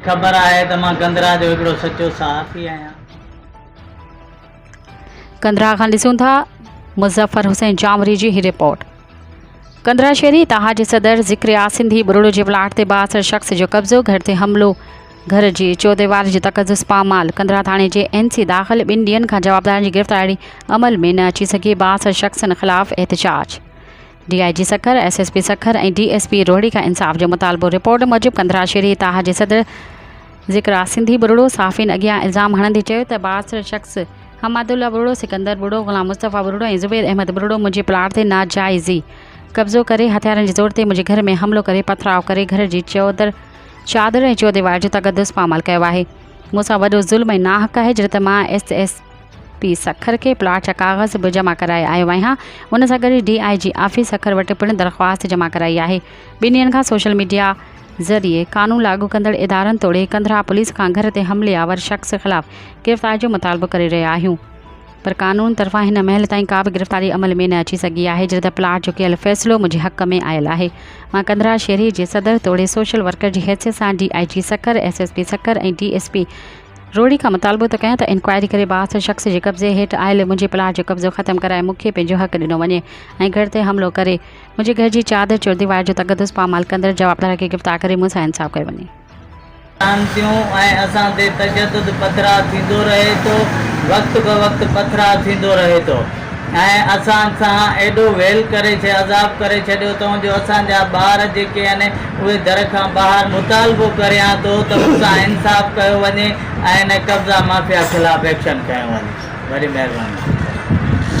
خبر آهي ته مان ڪندرا جو هڪڙو سچو صحافي آهيان. ڪندرا کان ڏسون ٿا مظفر حسين جامري جي هي رپورٽ. ڪندرا شهري اتحاد جي صدر ذڪر آ سنڌي ٻرڙو جي پلاٽ تي بااثر شخص جو قبضو، گهر تي حملو، گهر جي چوديواري جو تقدس پامال، ڪندرا ٿاڻي جي اين سي داخل ٻن ڏينهن کان جوابدارن جي گرفتاري عمل ۾ نه اچي سگهي، بااثر شخصن خلاف احتجاج. D I G Sukkur, S S P Sukkur ۽ D S P Rohri کان انصاف جو مطالبو، رپورٽ موجب ڪنڌرا شھري تاح جي صدر ذڪر آ سنڌي ٻرڙو صحافين اڳيان الزام ھڻندي چيو ته بااثر شخص حمادالله ٻرڙو، سڪندر ٻرڙو، غلام مصطفيٰ ٻرڙو ۽ زبير احمد ٻرڙو منھنجي پلاٽ تي ناجائزي قبضو ڪري ھٿيارن جي زور تي منھنجي گھر ۾ حملو ڪري پٿراء ڪري گھر جي چوڌر چادر ۽ چوديوار جو تقدس پامال ڪيو آھي مون سان وڏو ظلم ۽ ناحق آھي جڏھن ته مان ايس ايس پي سکر کي پلاٽ جا ڪاغذ به جمع ڪرائي آيو آهيان، ان سان گڏ D I G office Sukkur وٽ پڻ درخواست جمع ڪرائي آهي، ٻن ڏينهن کان سوشل ميڊيا ذريعي قانون لاڳو ڪندڙ ادارن توڙي ڪنڌرا پوليس کان گهر تي حملي آور شخص خلاف گرفتاري جو مطالبو ڪري رهيا آهيون پر قانون طرفان هن مهل تائين ڪا به گرفتاري عمل ۾ نه اچي سگهي آهي جڏهن پلاٽ جو ڪيل فيصلو منهنجي حق ۾ آيل آهي مان ڪنڌرا شهري جي صدر توڙي سوشل ورڪر جي حيثيت سان D I G Sukkur S S P Sukkur ۽ D S P Rohri کان مطالبو ته ڪيان ته انڪوائري ڪري بااثر شخص جي قبضي هيٺ آيل منهنجي پلاٽ جو قبضو ختم ڪرائي مون کي پنهنجو حق ڏنو وڃي ۽ گهر تي حملو ڪري منهنجي گهر جي چادر چورديوار جو تقدس پامال ڪندڙ جوابدار کي گرفتار ڪري مون سان انصاف ڪيو وڃي. ڪن ٿيون ۽ اسان تي تشدد پٿراء ٿيندو رهي ٿو وقت به وقت پٿراء ٿيندو رهي ٿو ۽ اسان سان ايڏو ويل ڪري عذاب ڪري ڇڏيو اٿئون جو اسان جا ٻار جيڪي آهن اهي در کان ٻاهر مطالبو ڪريان ٿو ته مون سان انصاف ڪيو وڃي ۽ هن قبضا مافيا خلاف ايڪشن کنيو وڃي. وڏي مهرباني ٿيندو.